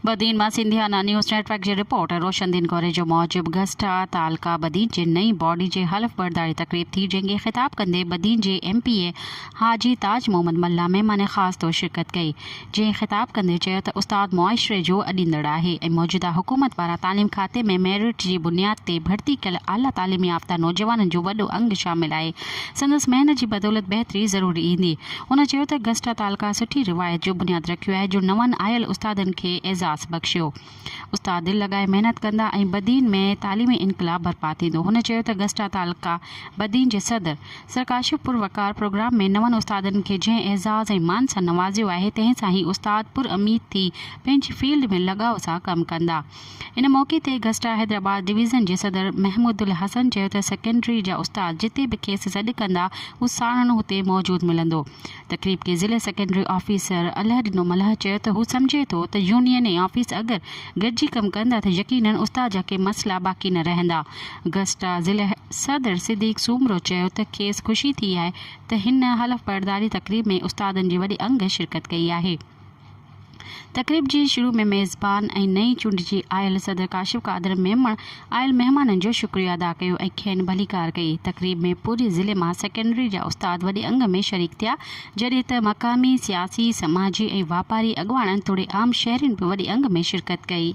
بدين مان Sindhiana news network جي reporter Roshan Din Gori جو موجب گسٽا تعلقه بدين جي نئين باڊي جي حلف برداري تقريب ٿي جنهن کي خطاب ڪندي بدين جي M P A Haji Taj Muhammad Mallah مهمان خاص طور شرڪت ڪئي جنهن خطاب ڪندي چيو ته استاد معاشري جو اڏيندڙ آهي ۽ موجوده حڪومت پاران تعليم کاتي ۾ ميرٽ جي بنياد تي ڀرتي ڪيل اعليٰ تعليم يافته نوجوانن جو وڏو انگ شامل آهي سندس محنت جي بدولت بهتري ضرور ايندي هن چيو ته گسٽا تعلقه سٺي روايت جو بنياد رکيو آهي جو نون آيل استادن کي اعزاز بخشيو. استاد دل لڳائي محنت ڪندا ۽ بدين ۾ تعليمي انقلاب برپا ٿيندو. هن چيو ته گسٽا تعلقه بدين جي صدر سر ڪاشف پور وقار پروگرام ۾ نون استادن کي جنهن اعزاز ۽ مان سان نوازيو آهي تنهن سان هي استاد پراميد ٿي پنهنجي فيلڊ ۾ لڳاء سان ڪم ڪندا. ان موقعي تي گسٽا حيدرآباد ڊويزن جي صدر محمودالحسن چيو ته سيڪنڊري جا استاد جتي به کيس سڏ ڪندا هو ساڻن هتي موجود ملندو. تقريب کي ضلعي سيڪنڊري آفيسر الهه ڏنو ملهه چيو ته هو سمجهي ٿو ته يونين ۽ آفيس اگر گڏجي ڪم ڪندا ته يقينن استاد جا ڪي مسئلا باقي نه رهندا. گسٽا ضلعي صدر صديق سومرو چيو ته کيس خوشي ٿي آهي ته هن حلف برداري تقريب ۾ استادن جي وڏي انگ شرڪت ڪئي آهي. تقريب جي شروع ۾ ميزبان ۽ نئين چونڊجي آيل صدر ڪاشف قادر ميمڻ آيل مهمانن جو شڪريو ادا ڪيو ۽ کين ڀليڪار ڪئي. تقريب ۾ پوري ضلعي مان سيڪنڊري جا استاد وڏي انگ ۾ شريڪ ٿيا جڏهن ته مقامي سياسي، سماجي ۽ واپاري اڳواڻن توڙي عام شهرين به وڏي انگ ۾ شرڪت ڪئي.